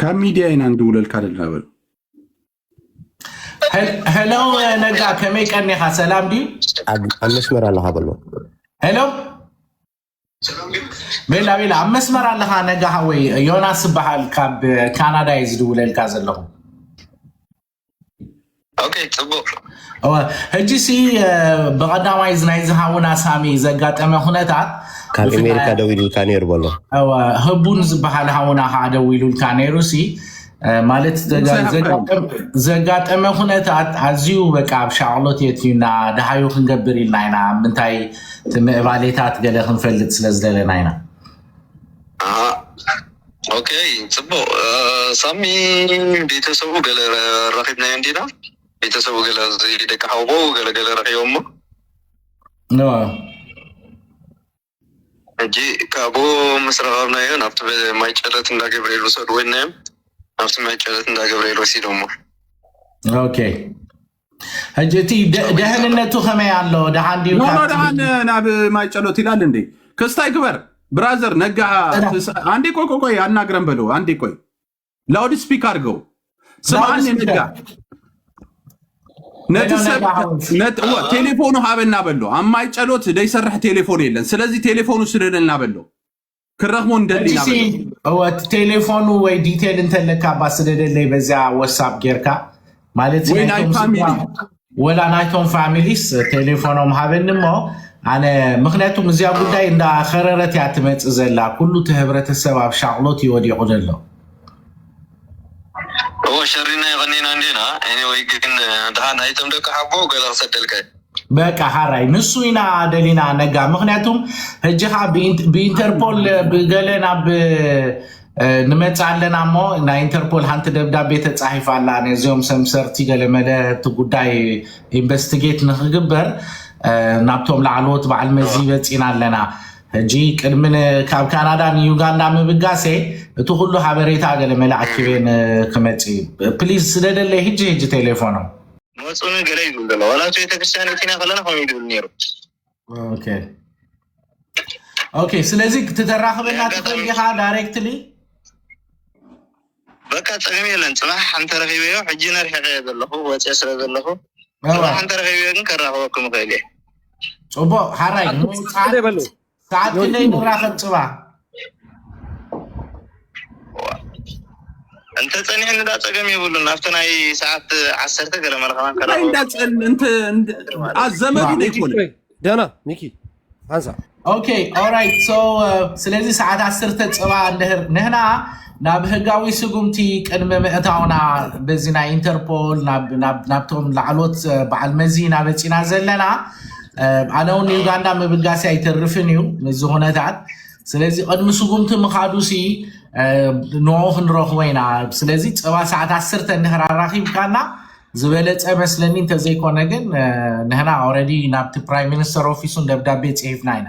ካብ ሚድያ ኢና ንድውለልካ ዘለና በሉ። ሄሎ ነጋ ከመይ ቀኒኻ ሰላም ድዩ? ኣብ ኣብ መስመር ኣለኻ በሎ ሄሎ ቤላ ቤላ ኣብ መስመር ኣለኻ ነጋ ሃወይ ዮናስ ዝበሃል ካብ ካናዳ እዩ ዝድውለልካ ዘለኹ። ሕጂ ሲ ብቐዳማይ ናይ ዝሃውና ሳሚ ዘጋጠመ ኩነታት ካብ ኣሜሪካ ደው ኢሉልካ ነይሩ በሎ ህቡን ዝበሃል ሃውና ከዓ ደው ኢሉልካ ነይሩ ሲ ማለት ዘጋጠመ ኩነታት ኣዝዩ በቃ ኣብ ሻቕሎት የትዩና ድሃዩ ክንገብር ኢልና ኢና ምንታይ እቲ ምዕባሌታት ገለ ክንፈልጥ ስለ ዝደለና ኢና ኦኬ ጽቡቅ ሳሚ ቤተሰቡ ገለ ረኪብናዮ እንዲና ቤተሰቡ ገለ ደቂ ሓውቦ ገለ ገለ ረኪቦሞ ሕጂ ካብኡ ምስ ረኸብናዮ ናብቲ ማይ ጨለት እንዳ ገብርኤል ውሰድዎ ኢልናዮም ናብቲ ማይ ጨለት እንዳ ገብርኤል ወሲዶሞ ኦኬ ሕጂ እቲ ደህንነቱ ከመይ ኣሎ ደሓን ድዩ ኖኖ ካብቲ ደሓን ናብ ማይ ጨሎት ይላል እንዴ ክስታይ ግበር ብራዘር ነጋ ጥራሕ ትንሳ- አንዴ ቆይ ቆይ ቆይ አናግረን በለው አንዴ ቆይ ላውድ ስፒክ አድርገው ላውድ ስምዓኒ ነጋ ስፒከር ነቲ ሄሎ ሰብ ነጋ ሓወስ ነቲ እወ ቴሌፎኑ ሃበና በሎ ኣብ ማይ ጨሎት ዘይሰርሕ ቴሌፎን የለን ስለዚ ቴሌፎኑ ስደደልና በሎ ክረኽቦ ንደሊ ኢና በሎ። እወ እቲ ቴሌፎኑ ወይ ዲቴል እንተለካ እባ ስደደለይ በዚያ ወሳብ ጌርካ ማለት ወይ ናይ ናይቶም ፋሚሊ ስድራ ወላ ናይቶም ፋሚሊስ ቴሌፎኖም ሃበኒ እሞ ኣነ ምክንያቱም እዚያ ጉዳይ እንዳ ከረረት እያ ትመፅእ ዘላ ኩሉ እቲ ህብረተሰብ ኣብ ሻቕሎት እዩ ወዲቑ ዘሎ እዎ ሸሪና የቀኒና እንዲና ኤኒወይ ግን ድሓን ናይቶም ደቂ ሓቦ ገለ ክሰደልካ እዩ። በቃ ሐራይ ንሱ ኢና ደሊና ነጋ ምክንያቱም ሕጂ ከዓ ብኢንተርፖል ብገለ ናብ ንመፅ ኣለና እሞ ናይ ኢንተርፖል ሓንቲ ደብዳቤ ተፃሒፍ ኣላ ነዚኦም ሰምሰርቲ ገለመለ እቲ ጉዳይ ኢንቨስቲጌት ንክግበር ናብቶም ላዕለዎት በዓል መዚ በፂና ኣለና ሕጂ ቅድሚ ካብ ካናዳ ንዩጋንዳ ምብጋሰ እቲ ኩሉ ሓበሬታ ገለመለ ኣኪበ ክመፅ እዩ ፕሊዝ ስደደለይ ሕጂ ሕጂ ቴሌፎኖም መፁ ን ገለ ይብል ዘሎ ዋላ ኣብቲ ቤተክርስትያን እቲና ከለና ከምኡ ይብል ነይሩ ኦኬ ኦኬ ስለዚ ትተራኽበና ትኽእል ዲኻ ዳይሬክትሊ በቃ ፀገም የለን ፅባሕ ሓንቲ ረኪበዮ ሕጂ ነርሒቀ እየ ዘለኹ ወፅየ ስለ ዘለኹ ፅባሕ ሓንቲ ረኪበዮ ግን ከራኽበኩም ይኽእል እየ ፅቡቅ ሓራይ ዘይበሉ ሰዓት ክንደይ ንራኸብ ፅባ እንተ ፀኒሕ ንዳ ፀገም የብሉን ኣብቲ ናይ ሰዓት ዓሰርተ ገለ መለኸና ከረኸቡ እንዳፀል እንተ እንደ- አ ዘመዱ ነው ይኮነ ደና ሚኪ ሓንሳ ኦኬ ኦራይት ሶ ስለዚ ሰዓት ዓሰርተ ፅባ እንድህር ንህና ናብ ህጋዊ ስጉምቲ ቅድሚ ምእታውና በዚ ናይ ኢንተርፖል ናብቶም ላዕሎት በዓል መዚ ኢና በፂና ዘለና ኣነ እውን ንዩጋንዳ ምብጋሲ ኣይተርፍን እዩ ምዚ ኩነታት ስለዚ ቅድሚ ስጉምቲ ምኻዱ ሲ ንኡ ክንረኽቦ ኢና ስለዚ ፀባ ሰዓት ዓስርተ እንድሕር ኣራኺብካና ዝበለፀ መስለኒ እንተዘይኮነ ግን ንህና ኦረዲ ናብቲ ፕራይም ሚኒስተር ኦፊሱን ደብዳቤ ፅሒፍና ኢና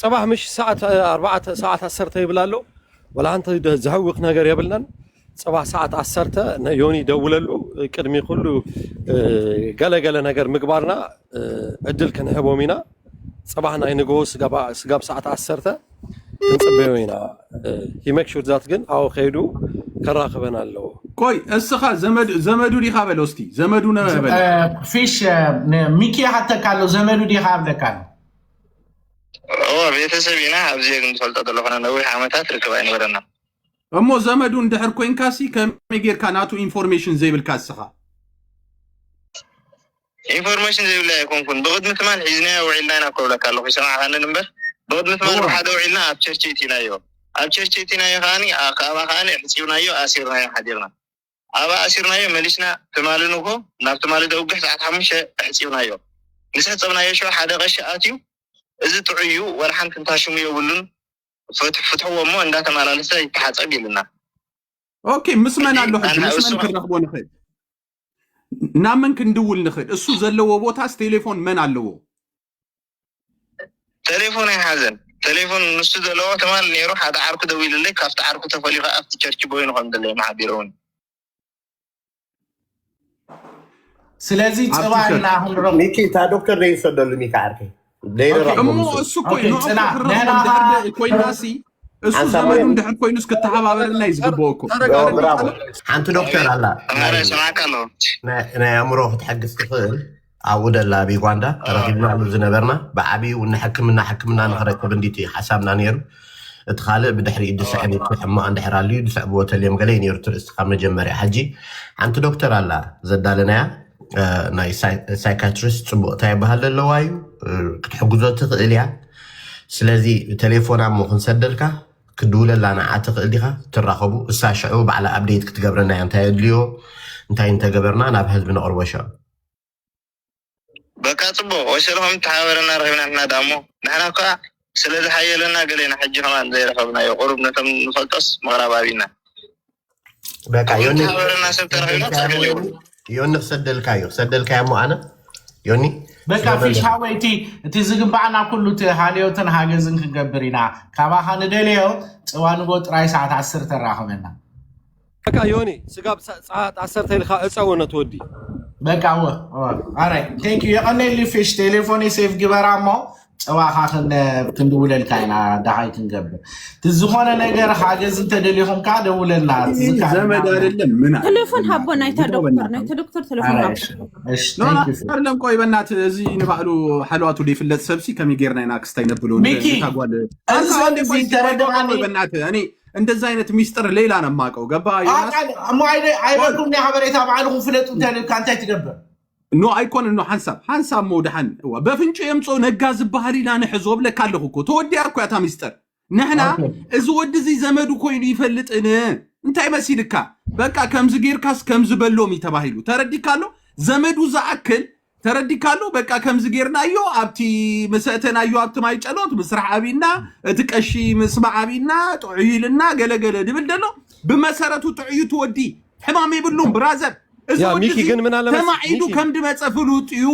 ፅባሕ ምሽ ሰዓት ኣርባዕተ ሰዓት ዓሰርተ ይብል ኣሎ ወላ ሓንቲ ዘሕውኽ ነገር የብልናን ፅባሕ ሰዓት ዓሰርተ ንዮኒ ደውለሉ ቅድሚ ኩሉ ገለገለ ነገር ምግባርና ዕድል ክንህቦም ኢና ፅባሕ ናይ ንግሆ ስጋብ ሰዓት ዓሰርተ ክንፅበዮ ኢና ሂመክ ሹርዛት ግን ኣዎ ከይዱ ከራኽበን ኣለዎ ቆይ እስኻ ዘመዱ ዘመዱ ዲኻ በሎ እስቲ ዘመዱ ነ በሎ ፊሽ ሚኪ ይሓተካ ኣሎ ዘመዱ ዲኻ ኣብለካ ኣሎ እዎ ቤተሰብ ኢና ኣብዚ ግን ዝፈልጦ ዘለኾነ ነዊሕ ዓመታት ርክብ ኣይነበረና እሞ ዘመዱ እንድሕር ኮንካሲ ከመይ ጌርካ ናቱ ኢንፎርሜሽን ዘይብልካ እስኻ ኢንፎርመሽን ዘይብለይ ኣይኮንኩን ብቅድሚ ትማል ሒዝናዮ ውዒልና ኢና እኮ እብለካ ኣለኩ ይሰማዕካኒ እንበር ብቅድሚ ትማል እወ ብሓደ ውዒልና ኣብ ቸርች እቲናዮ ኣብ ቸርች እቲናዮ ከኣኒ ካባ ከኣኒ ኣሕጺብናዮ ኣሲርናዮ ሓዲርና ኣባ ኣሲርናዮ መሊስና ትማሊ ንግሆ ናብ ትማሊ ደውግሕ ሰዓት ሓሙሽተ ኣሕጺብናዮ ምስ ኣሕጸብናዮ ሸው ሓደ ቀሺ ኣትዩ እዚ ጥዑይ እዩ ወላ ሓንቲ እንታ ሽሙ የብሉን ፍት- ፍትሕዎ እሞ እንዳተመላለሰ ይተሓጸብ ኢልና ኦኬ ምስ መን ኣሎ ሕጂ ምስ መን ክንረኽቦ ንኽእል ናብ መን ክንድውል ንኽእል? እሱ ዘለዎ ቦታስ ቴሌፎን መን ኣለዎ? ተሌፎን ኣይሓዘን ተሌፎን ንሱ ዘለዎ ትማል ኔሩ ሓደ ዓርኩ ደዊሉለይ ካብቲ ዓርኩ ተፈልዩ ከኣ ኣብቲ ቸርቺ ቦይኑ ከም ዘለየም ሓቢሩኒ። ስለዚ ኣብቲ ጽባሕ ቸርች እና ክንረኽቦ ሚኪ እታ ዶክተር ዘይሰደሉ ሚኪ ዓርከይ ዘይረኽቦም እሞ እሱ እሱ እኮ እዩ ንዕኦም ፅና ክረኽቦም ድሕር ንሕና ደ- ኮይናሲ እሱ ሓንሳብ ዘመዱ ወይም ድሕር ኮይኑስ ክተሓባበረልና እዩ ዝግብኦ እኮ ተረጋጋ ብራቮ ሓንቲ ዶክተር ኣላ ናይ ሰማዕካ ኣሎ ናይ ናይ ኣእምሮ ክትሕግዝ ትኽእል ኣብ ውደላ ኣብ ዩጋንዳ ተረኪብናሉ ዝነበርና ብዓብዩ እውን ንሕክምና ሕክምና ንክረክብ እንዲቲ ሓሳብና ነይሩ እቲ ካልእ ብድሕሪ ድስዕብ እቲ ሕማቕ እንድሕር ኣልዩ ድስዕብዎ ተልዮም ገለ እዩ ነይሩ ትርእስቲ ካብ መጀመርያ ሕጂ ሓንቲ ዶክተር ኣላ ዘዳለናያ ናይ ሳይካትሪስት ፅቡቅ እንታይ ይበሃል ኣለዋ እዩ ክትሕግዞ ትኽእል እያ ስለዚ ቴሌፎን ኣሞ ክንሰደልካ ክድውለላ ንዓ ትኽእል ዲኻ ትራኸቡ እሳ ሽዑ ባዕላ ኣብዴት ክትገብረና እያ እንታይ ኣድልዮ እንታይ እንተገበርና ናብ ህዝቢ ነቕርቦ ሽዑ በቃ ፅቡቅ ወሸልኹም ተሓባበረና ረኺብና ንሕና ድኣ እሞ ንሕና እኳ ስለ ዝሓየለና ገለ ኢና ሕጂ ከማን ዘይረኸብናዮ ቁሩብ ነቶም ንፈልጦስ ምቕራብ ኣቢና በቃ ዮኒ ሓበረና ሰብ ተረኺብና ጸገም ሰደልካዮ የብሉ ዮኒ ዮኒ ክሰደልካዮ ሰደልካዮ እሞ ኣነ ዮኒ በቃ ስለ ፊሽ ዘለኒ ሃወይ እቲ እቲ ዝግባኣና ኩሉ እቲ ሃልዮትን ሃገዝን ክንገብር ኢና ካባኻ ንደልዮ ጽዋ ንጎ ጥራይ ሰዓት ዓስር ተራኸበና በቃ ዮኒ ስጋብ ሰዓት ዓሰርተ ኢልካ ዕፀዎ ነቲ ወዲ። በቃ እወ እወ ኣራይ ቴንክ ዩ የቀኔሊ ፊሽ ቴሌፎኒ ሴፍ ግበራ እሞ ፀባኻ ክንድውለልካ ኢና ዳሃይ ክንገብር እቲ ዝኾነ ነገር ሓገዝ እንተደሊኹም ከዓ ደውለልና ዘመድ አይደለም ምን ቴሌፎን ሃቦ ናይታ ዶክተር ናይታ ዶክተር ቴሌፎን ሃቦ ኣይደለም ቆይ በናት እዚ ንባዕሉ ሓለዋቱ ዘይፍለጥ ሰብሲ ከመይ ጌርና ኢና ክስታይ ነብሎ ሚኪ ታጓል እዚ ሰንዚ ተረድኣኒ በናት እኔ እንደዚ ዓይነት ሚስጥር ሌላ ነው የማውቀው። ገባ ዮናስ? ኣቃል- እሞ ኣይደ- ኣይበልኩም ናይ ሓበሬታ ባዕልኹም ፍለጡ እንተልካ እንታይ ትገብር ኖ ኣይኮነን ኖ ሓንሳብ ሓንሳብ ሞ ድሓን እዋ በፍንጩ የምፅኦ ነጋ ዝበሃል ኢና ንሕዞ ብለካ ኣለኹ እኮ ተወዲኣ እኮ እያ እታ ሚስጥር ንሕና ኦኬ። እዚ ወዲ እዚ ዘመዱ ኮይኑ ይፈልጥን እንታይ መሲልካ በቃ ከምዚ ጌርካስ ከምዚ በሎም እዩ ተባሂሉ ተረዲካ ኣሎ ዘመዱ ዝኣክል ተረዲካ ኣሎ በቃ ከምዚ ጌርናዮ ኣብቲ ምስ ኣእተናዮ ኣብቲ ማይ ጨሎት ምስራሕ ኣብና እቲ ቀሺ ምስማዕ ኣብና ጥዑይ ኢልና ገለገለ ድብል ደሎ ብመሰረቱ ጥዑዩ እቲ ወዲ ሕማም የብሉን ብራዘር እዚ ያ ወዲ ሚኪ እዚ ግን ምን ኣለመስ ተማዒዱ ሚኪ ከም ድመፀ ፍሉጥ እዩ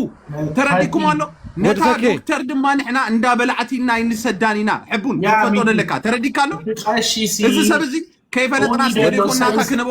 ተረዲኩም ኣሎ ወዲ ነታ ተኬ ዶክተር ድማ ንሕና እንዳ በላዕቲና ኣይንሰዳን ኢና ሕቡን ያ ክንፈጦ ሚኪ ደለካ ተረዲካ ኣሎ እቲ ቀሺ ሲ እዚ ሰብ እዚ ከይፈለጥና ኡኒ ስለ ደሎ ዘይኮና እታ ሳይንስ ክንቦ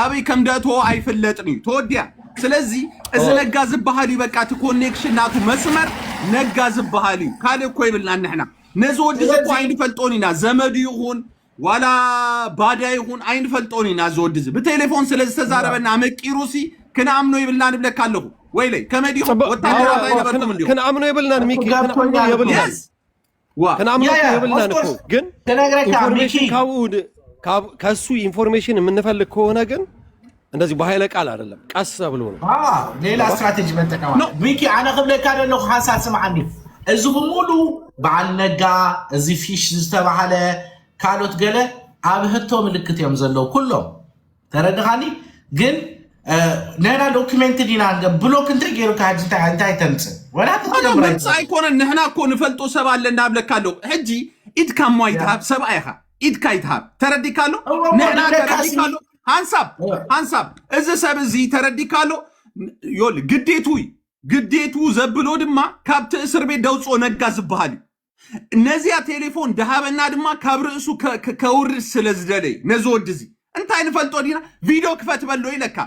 ኣበይ ከም ደእትዎ ኣይፍለጥን እዩ ተወዲያ ስለዚ እዚ ነጋ ዝበሃል እዩ በቃ እቲ ኮኔክሽን ናቱ መስመር ነጋ ዝበሃል እዩ ካልእ እኮ ይብልና ንሕና ነዚ ወዲ እዚ እኮ ኣይንፈልጦን ኢና ዘመዱ ይኹን ዋላ ባዳ ይኹን ኣይንፈልጦን ኢና እዚ ወዲ እዚ ብቴሌፎን ስለ ዝተዛረበና ኣመቂሩሲ ክንኣምኖ ይብልና ንብለካ ኣለኹ ወይለይ ከመይ ዲኹም ጽቡቅ ወታደራት ኣይነበርኩም እንዲኹም ክንኣምኖ የብልናን ሚኪ ክንኣምኖ የብልናን ክንኣምነኩ የብልናን እኮ ግን ኢንፎርሜሽን ካብኡ ከሱ ኢንፎርሜሽን የምንፈልግ ከሆነ ግን እንደዚህ በኃይለ ቃል አይደለም፣ ቀስ ብሎ ነው። ሌላ ስትራቴጂ መጠቀም ነው። ሚኪ አነ ክብለካ ደለኹ ሓንሳብ ስምዓኒ እዚ ብሙሉ በዓል ነጋ እዚ ፊሽ ዝተባሃለ ካልኦት ገለ ኣብ ህቶ ምልክት እዮም ዘለዉ ኩሎም ተረድኻኒ ግን ንሕና ዶክመንት ዲና ብሎክ እንተገይሩካ ሕጂ እንታይ እንታይ ተምፅእ ወላ ኣነ ክትገብር መምፅእ ኣይትኽእልን ኣይኮነን ንሕና እኮ ንፈልጦ ሰብ ኣለ እናብለካ ኣሎ ሕጂ ኢድካ እሞ ያ ኣይትሃብ ሰብኣ ኢኻ ኢድካ ኣይትሃብ ተረዲካ ኣሎ እሞ እሞ ንሕና ንደቃሲ ተረዲካ ኣሎ ሃንሳብ ሃንሳብ እዚ ሰብ እዚ ተረዲካ ኣሎ ዮል ግዴቱ እዩ ግዴቱ ዘብሎ ድማ ካብቲ እስር ቤት ደውፅኦ ነጋ ዝበሃል እዩ ነዚኣ ቴሌፎን ድሃበና ድማ ካብ ርእሱ ከ- ከ- ከውርድ ስለ ዝደለይ ነዚ ወዲ እዚ እንታይ ንፈልጦ ዲና ቪድዮ ክፈት በሎ ኢለካ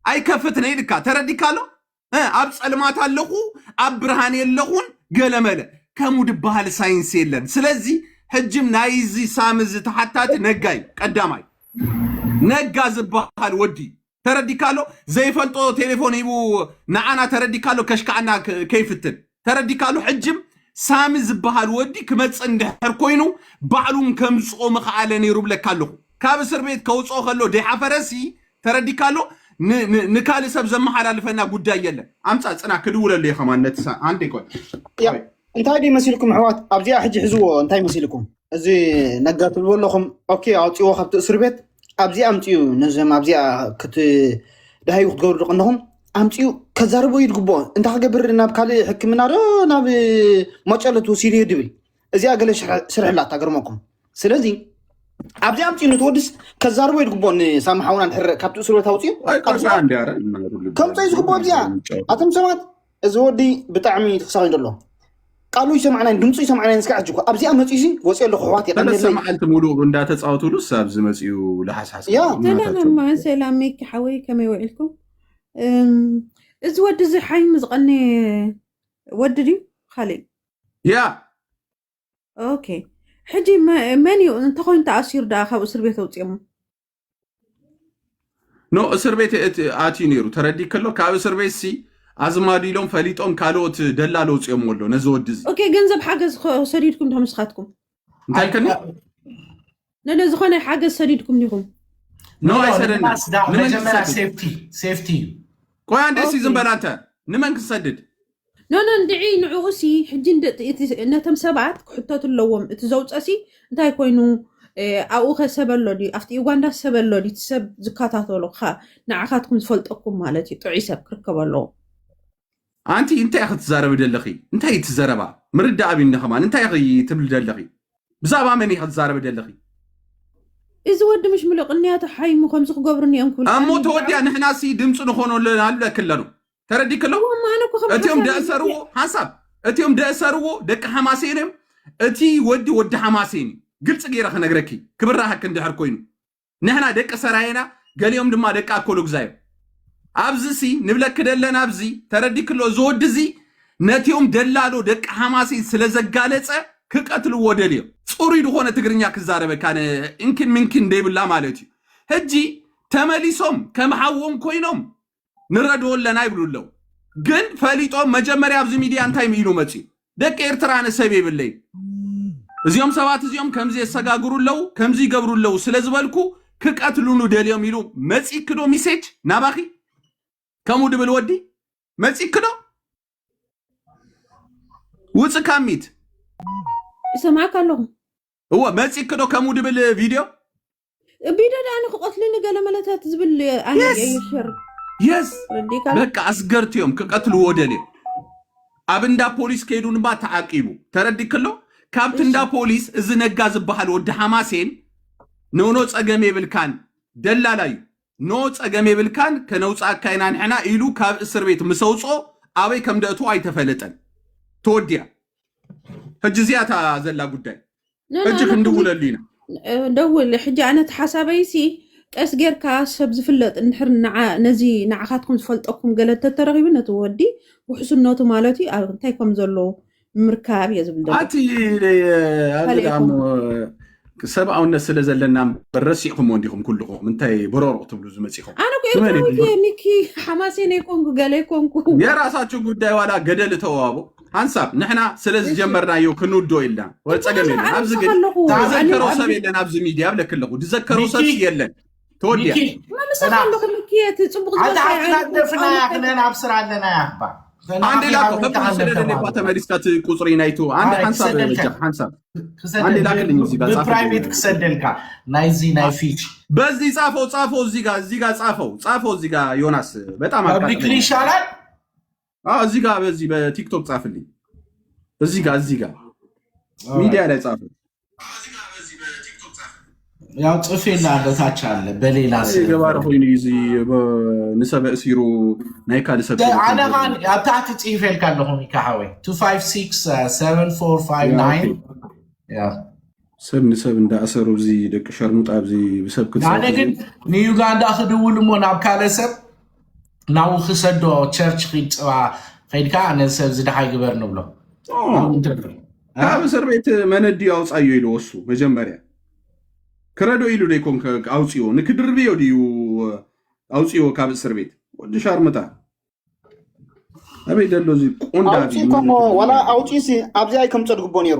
ኣይከፍትን ኢልካ ተረዲካ ኣሎ እ፣ ኣብ ፀልማት ኣለኹ ኣብ ብርሃን የለኹን ገለመለ ከምኡ ድበሃል ሳይንስ የለን ስለዚ ሕጅም ናይ እዚ ሳሚ እዚ ተሓታቲ ነጋ እዩ ቀዳማይ ነጋ ዝበሃል ወዲ እዩ። ተረዲካሎ ዘይፈልጦ ቴሌፎን ሂቡ ንዓና ተረዲካሎ ከሽካዓና ከይፍትን ተረዲካሎ ሕጅም ሳሚ ዝበሃል ወዲ ክመፅእ እንድሕር ኮይኑ ባዕሉን ከምፅኦ ምኸኣለ ነይሩ ብለካ ኣለኹ ካብ እስር ቤት ከውፅኦ ከሎ ደይሓፈረሲ ተረዲካሎ ንካልእ ሰብ ዘመሓላልፈና ጉዳይ የለን ኣምፃ ፅና ክድውለሉ እየ ከማን ነቲ ኣንዴ ቆይ እንታይ ድዩ መሲልኩም ኣሕዋት ኣብዚኣ ሕጂ ሕዝዎ እንታይ መሲልኩም እዚ ነጋ ትብልዎ ኣለኹም ኦኬ ኣውፅዎ ካብቲ እስር ቤት ኣብዚኣ ኣምፅኡ ነዞም ኣብዚኣ ክት ዳሃዩ ክትገብሩ ቀንኹም ኣምፅኡ ከዛርቦ እዩ ዝግብኦ እንታይ ክገብር ናብ ካልእ ሕክምና ዶ ናብ መጨሎ ትወሲዱ እዩ ድብል እዚኣ ገለ ስርሕላ ታገርመኩም ስለዚ ኣብዚ ኣምፅኡ ንትወድስ ከዛርቦ እዩ ዝግብኦ ንሳሚ ሓውና ድሕር ካብቲ እስር ቤት ኣውፅኡ ከምፀ እዩ ዝግብኦ እዚኣ ኣቶም ሰባት እዚ ወዲ ብጣዕሚ እዩ ተሳቂዩ ዘሎ ቃሉ ይሰማዕናይን ድምፁ ይሰማዕናይን እስከ ሕጂ እኮ ኣብዚኣ መፅኡ ሲ ወፂኦ ኣለኩ ኣሕዋት ሰለስተ የቀንየለይ መዓልቲ ሙሉእ እንዳተፃወትሉስ ኣብዚ መፅኡ ልሓስሓስ ያ ሰላም እናታቸው እማ ሰላም ሚኪ ሓወይ ከመይ ውዒልኩም እም፣ እዚ ወዲ እዚ ሓይሙ ዝቐነየ ወዲ ድዩ ካልእ እዩ? ያ ኦኬ ሕጂ መ- መን እዩ እንተኮይኑ ተኣሲሩ ደኣ ካብ እስር ቤት ኣውፅኦሞ ኖ እስር ቤት ኣትዩ ነይሩ ተረዲ ከሎ ካብ እስር ቤት ሲ ኣዝማዱ ኢሎም ፈሊጦም ካልኦት ደላሎ ውፅኦም ኣሎ ነዚ ወዲ እዚ ኦኬ ገንዘብ ሓገዝ ሰዲድኩም ዶ ንስኻትኩም እንታይ ከኒ ነለ ዝኾነ ሓገዝ ሰዲድኩም ዲኹም ኖ ኣይሰደና መጀመሪያ ሴፍቲ ሴፍቲ እዩ ቆይ አንዴ ሲ ዝም በል አንተ ንመን ክሰድድ ኖኖ እንድዒ ንዕኡ ሲ ሕጂ ነቶም ሰባት ክሕተቱ ኣለዎም እቲ ዘውፀ ሲ እንታይ ኮይኑ ኣብኡ ከ ሰብ ኣሎ ድዩ ኣብቲ ዩጋንዳ ሰብ ኣሎ ድዩ እቲ ሰብ ዝከታተሎ ንዓኻትኩም ዝፈልጠኩም ማለት እዩ ጥዑይ ሰብ ክርከብ ኣለዎ ኣንቲ እንታይ ኢኺ ትዛረቢ ደለኺ እንታይ እዩ ትዘረባ ምርዳእ ኣብኒ ከማን እንታይ ኢኺ ትብሊ ደለኺ ብዛዕባ መን ኢኺ ትዛረቢ ደለኺ እዚ ወዲ ምሽ ምሎ ቅንያቱ ሓይሙ ከምዚ ክገብሩኒ እዮም ክብሉ እሞ ተወዲያ ንሕና ሲ ድምፂ ንኾኖ ኣለና ኣለኪ ኣለኑ ተረዲክ ኣለዎ እሞ ኣነ እኮ ከም እቲኦም ሓሳብ እዩ ደእሰርዎ መጽ- ሓሳብ እቲኦም ደእሰርዎ ደቂ ሓማሴን እዮም እቲ ወዲ ወዲ ሓማሴን እዩ ግልፂ ገይረ ክነግረኪ ክብራሃክ እንድሕር ኮይኑ ንሕና ደቂ ሰራየና ገሊኦም ድማ ደቂ ኣኮሎግዛ እዮም ኣብዚ ሲ ንብለኪ ደለና ኣብዚ ተረዲክ ኣሎ እዚ ወዲ እዚ ነቲኦም ደላሎ ደቂ ሓማሴን ስለ ዘጋለፀ ክቀትልዎ ደልዮም ፅሩይ ዝኾነ ትግርኛ ክዛረበካ ነ እንኪን ምንኪን ደይብላ ማለት እዩ ሕጂ ተመሊሶም ከም ሓዎም ኮይኖም ንረድኦ ኣለና ይብሉ ኣለዉ ግን ፈሊጦም መጀመርያ ኣብዚ ሚድያ እንታይ ምኢሉ መፅዩ ደቂ ኤርትራ ኣነ ሰብ የብለይ እዚኦም ሰባት እዚኦም ከምዚ የሰጋግሩ ኣለዉ ከምዚ ይገብሩ ኣለዉ ስለ ዝበልኩ ክቀትሉኑ ደልዮም ኢሉ መፂኪ ዶ ሚሴጅ ናባኺ ከምኡ ድብል ወዲ መፂኪ ዶ ውፅእ ካብ ሚት ይሰማዕካ ኣለኹ እወ መፂኪ ዶ ከምኡ ድብል ቪድዮ ቢዶ ደኣ ንክቐትልኒ ገለመለታት ዝብል ኣነ Yes! የዩ ሸር የስ ረዲካል በቃ ኣስገርቲ እዮም ክቀትልዎ ደልዮም ኣብ እንዳ ፖሊስ ከይዱ ንባ ተዓቂቡ ተረዲ ከሎ ካብቲ እንዳ እሺ ፖሊስ እዚ ነጋ ዝበሃል ወዲ ሓማሴን ኖኖ ጸገም የብልካን ደላላ እዩ ኖ ጸገም የብልካን ከነውጻእካ ኢና ንሕና ኢሉ ካብ እስር ቤት ምስ ኣውጾ ኣበይ ከም ደእትዎ ኣይተፈለጠን ተወዲያ ሕጂ እዚኣ እታ ዘላ ጉዳይ ሕጂ ክንድውለሉ ኢና ደውል ሕጂ ኣነ እቲ ሓሳበይሲ ቀስ ጌርካ ሰብ ዝፍለጥ እንድሕር ነዚ ንዓኻትኩም ዝፈልጠኩም ገለ ተተረኺቡ ነቲ ወዲ ውሕስነቱ ማለት እዩ ኣብ እንታይ ከም ዘሎ ምርካብ እየ ዝብል ኣቲ ኣዚዳሞ ሰብኣውነት ስለ ዘለና እምበር ረሲዕኹምዎ እንዲኹም ኩልኹም እንታይ በረሮቕ ትብሉ ዝመፂኹም ኣነ ኮ ኤርትራዊት እየ ኒኪ ሓማሴን ኣይኮንኩ ገለ ኣይኮንኩ የራሳችሁ ጉዳይ ዋላ ገደል እተዋቦ ሓንሳብ ንሕና ስለ ዝጀመርናዮ ክንውድኦ ኢልና ወ ጸገም የለን ኣብዚ ግን ዝዘከሮ ሰብ የለን ኣብዚ ሚድያ ብለክ ኣለኹ ዝዘከሮ ሰብ የለን ተወዲያ አንድ ላክ ስለሌለ እኳ ተመሊስካ ቁፅሪ ናይቱ አንድ ሓንሳብ ሓንሳብ አንድ ላክልኝ እዚህ ጋር ፕራይቬት ክሰደልካ ናይዚ ናይ ፊች በዚህ ጻፈው ጻፈው እዚህ ጋር እዚህ ጋር ጻፈው ጻፈው እዚህ ጋር ዮናስ በጣም አቃጥለኝ ይሻላል አዎ እዚህ ጋር በዚህ በቲክቶክ ጻፍልኝ። እዚህ ጋር እዚህ ጋር Alright. ሚዲያ ላይ ጻፍ። ያው ጽፌ ላለው ታች አለ በሌላ እኔ ስም ገባረ ኮይኑ እዩ እዚ ንሰበ እሲሩ ናይ ካልእ ሰብ ተለፎን ኣነ ኻን ዘርኢ። ኣብ ታሕቲ ጽሒፈልካ ኣለኹ ሚካ ሓወይ 256745 ያ፣ ኦኬ። ያ ሰብ ንሰብ እንዳእሰሩ እዚ ደቂ ሸርሙጣ ኣብዚ ብሰብ ኣነ ክትሰርቁ እዚ ግን ንዩጋንዳ ክድውል እሞ ናብ ካልእ ሰብ ናብኡ ክሰዶ ቸርች ኺድ ፅባ ከይድካ ነዚ ሰብ እዚ ድሃይ ግበር ንብሎ ኖ ኣብኡ እንተ እ? ካብ እስር ቤት መነዲ ኣውፃዮ ኢሉ ወሱ መጀመርያ ክረዶ ኢሉ ዶ ይኮን ከ- ኣውፅዎ ንክድርብዮ ድዩ ኣውፅዎ ካብ እስር ቤት ወዲ ሻርምጣ ኣበይ ደሎ እዚ ቆንዳቢ ኣውፅኡ ከሞ መነዲ ዋላ ዝብሃል ኣውፅኡሲ ኣብዚ ኣይከምፀ ድግቦ ነይሩ